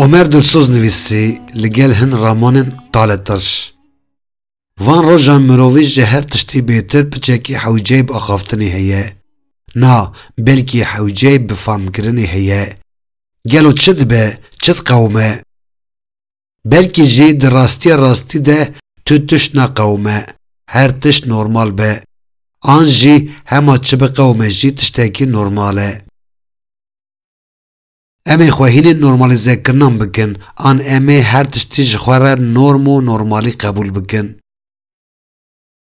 Omer Dilsoz nivîsî li gel hin ramanên Tale Tirş. Van rojan mirovî ji her tiştî bêtir piçekî hewceyî bi axaftinê heye. Na, belkî hewceyî bi famkirinê heye. Gelo çi dibe, çi diqewime? Belkî jî di rastiya rastî de tu tişt neqewime, her tişt normal be. An jî hema çi biqewime jî tiştekî normal e. Em ê xwe hînên normalîzekirinan bikin an em ê her tiştî ji xwe re norm û normalî qebûl bikin.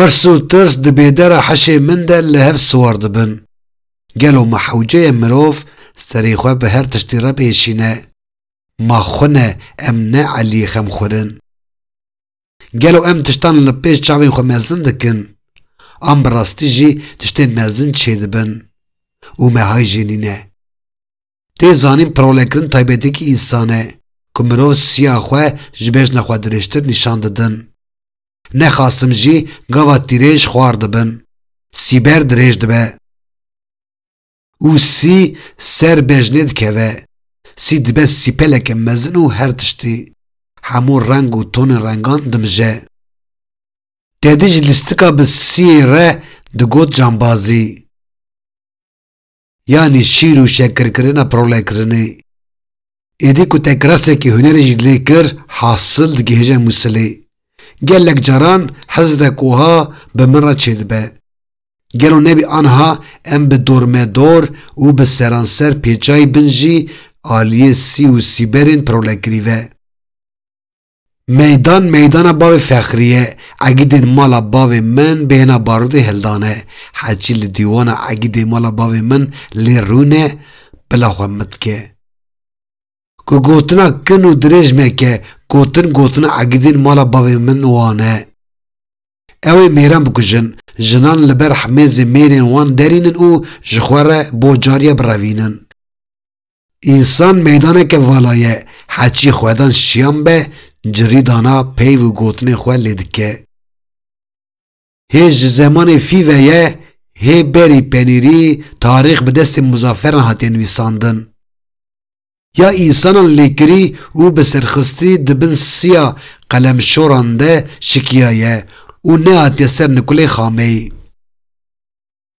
Pirs û tirs di bêdera hişê min de li hev siwar dibin. Gelo ma hewceyê mirov serê xwe bi her tiştî re bêşîne? Ma xwe ne em ne Eliyê xemxwir in? Gelo em tiştan li pêş çavên xwe mezin dikin? An bi rastî jî tiştên mezin çêdibin û me hay jê nîne? Tê zanîn pirolêkirin taybetîyekî însan e ku mirov siya xwe ji bejna xwe dirêjtir nîşan didin. Ne xasim jî gava tîrêj xwar dibin. Sîber dirêj dibe. Û sî ser bejnê dikeve. Sî dibe sîpeleke mezin û her tiştî, hemû reng û tonên rengan dimije. Tedî ji lîstika bi sîyê re digot cambazî. Yanî şîr û şekirkirina prolekirinê. Êdî ku te kirasekî hunerê jî lê kir hasil digihêje Mûsilê. Gelek caran hizrek wiha bi min re çêdibe. Gelo nebî anha em bi dormedor û bi seranser pêçayî bin jî aliyê sî û sîberên prolekirî ve. Meydan meydana bavê Fexrî ye. Egîdên mala bavê min bêhna barûtê hildan e. Heçî li dîwana egîdê mala bavê min lê rûn e, bila xwe min dike. Ku gotina kin û dirêj neke, gotin gotina egîdên mala bavê min wan e. Ew ê mêran bikujin, jinan li ber hemêzê mêrên wan derînin û ji xwe re bo cariye birevînin. Însan meydaneke vala ye, heçî xwedan şiyan be, cirî dana peyv û gotinên xwe lê dike. Hê ji zemanê fî ve ye, hê berî penîrî, tarîx bi destên muzaferan hatiye nivîsandin. Ya însanan lêkirî û bi serxistî di bin siya qelemşoran de şikiyaye û nehatiye ser nikulê xameyî.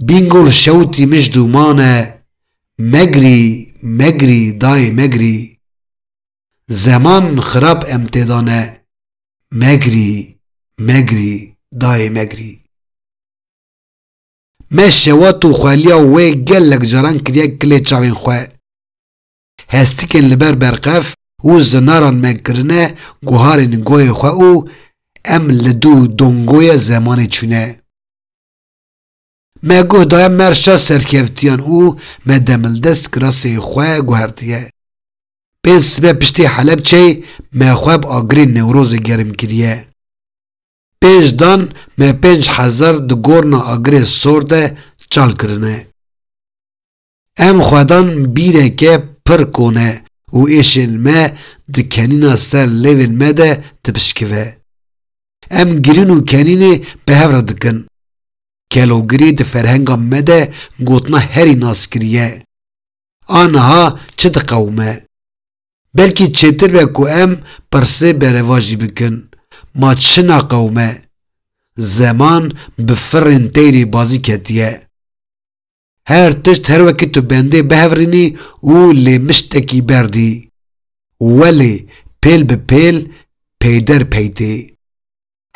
Bingol şewtî mij dûman e Megrî megrî dayê megrî Zeman xirab em tê dane Megrî megrî dayê megrî Me şewat û xweliya wê gelek caran kiriye kilê çavên xwe Hestikên li ber berqef û zinaran me kirine guharên goyê xwe û em li dû dongoyê zemanê çûne. Me guh daye me reşa serkevtiyan û me demildest kirasê xwe guhertiye. Pênc sibe piştî Helepçeyê me xwe bi agirê Newrozê germ kiriye. Pênc dan me pênc hezar di gorna agirê sor de çal kirine. Em xwedan bîreke pir kone û êşên me di kenîna ser lêvên me de dipişkive. Em girîn û kenînê bi hev re dikin. Kelogirî di ferhenga me de gotina herî naskiriye. A niha çi diqewime? Belkî çêtir be ku em pirsê berevajî bikin, Ma çi naqewime? Zeman bi firên teyrê bazî ketiye. Her tişt her wekî tu bendê bihevrînî û lê miştekî berdî. Welê pêl bi pêl peyder pey tê.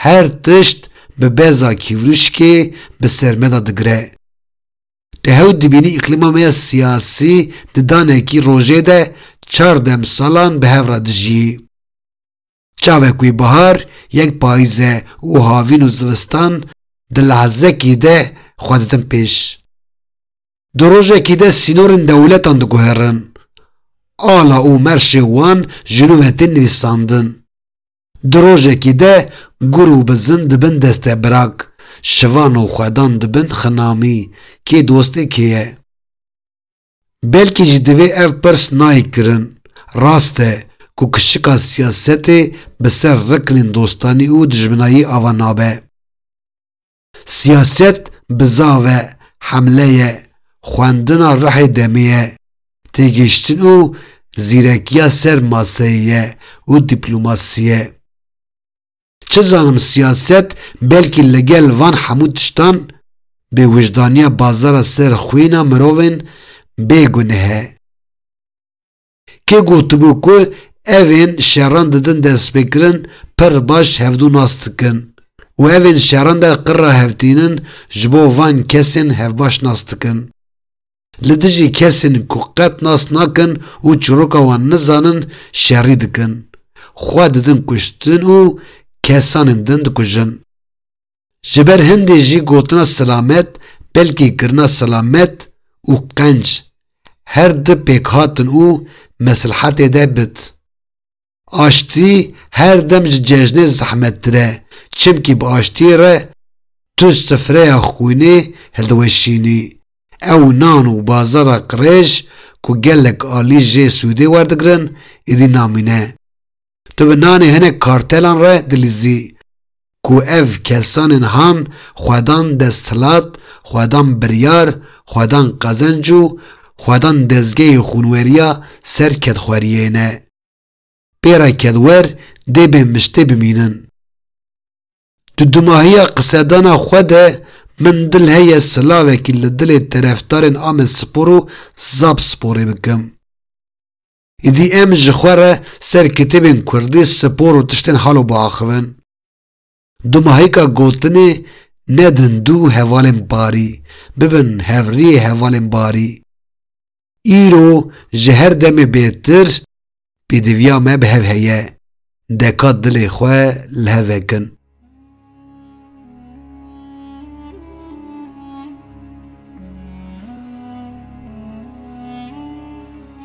Her tişt bi beza kîvrûşkê bi ser me de digire. Tu hew dibînî îqlîma me ya siyasî di danekî rojê de çar demsalan bi hev re dijî. Çavek wî bihar, yek payîze û havîn û zivistan di lehzekî de xwe didin pêş. Di rojekî de sînorên dewletan diguherin. Ala û merşê wan ji nû ve tên nivîsandin. Di rojekî de gur û bizin dibin destebirak, şivan û xwedan dibin xinamî, kê dost ê kê ye. Belkî jî divê ev pirs nayê kirin, Rast e ku kişika siyasetê bi ser riknên dostanî û dijminayî ava nabe. Siyaset bizav e, hemle ye, xwendina rihê demê ye, têgihiştin û zîrekiya ser maseyê ye û dîplomasî ye. Çi zanim siyaset belkî li gel van hemû tiştan bêwijdaniya bazara ser xwîna mirovên bê guneh e. Kê gotibû ku evên şeran didin destpêkirin pir baş hevdû nas dikin û evên şeran de qirra hevtînin ji bo van kesên hevbaş nas dikin. Li dijî kesên ku qet nas nakin û çîroka wan nizanin şerî dikin, xwe didin kuştin û kesanên din dikujin. Ji ber hindê jî gotina silamet belkî kirina silamet û qenc her di pêkhatin û meslhetê de bit. Aştî her dem ji cejnê zehmettir e, çimkî bi aştiyê re tu ji sifreya xwînê hildiweşînî. Ew nan û bazara qirêj ku gelek alî jê sûdê werdigirin êdî namîne. Tu bi nanê hinek kartelan re dilîzî ku ev kesanên han xwedan desthilat, xwedan biryar, xwedan qezenc û xwedan dezgehê xwûnweriya ser kedxweriyê ne. Pêra kedwer dê bê miştê bimînin. Di dumahiya qisedana xwe de min dil heye silavekî li dilê terefdarên Amedspor û Zabsporê bikim. Îdî em ji xwe re ser kitêbên kurdî, spor û tiştên hal û biaxivin. Di mahêka gotinê nedin du hevalên barî, bibin hevriyê hevalên barî. Îro ji her demê bêtir pêdiviya me bi hev heye, deka dilê xwe li hev vekin.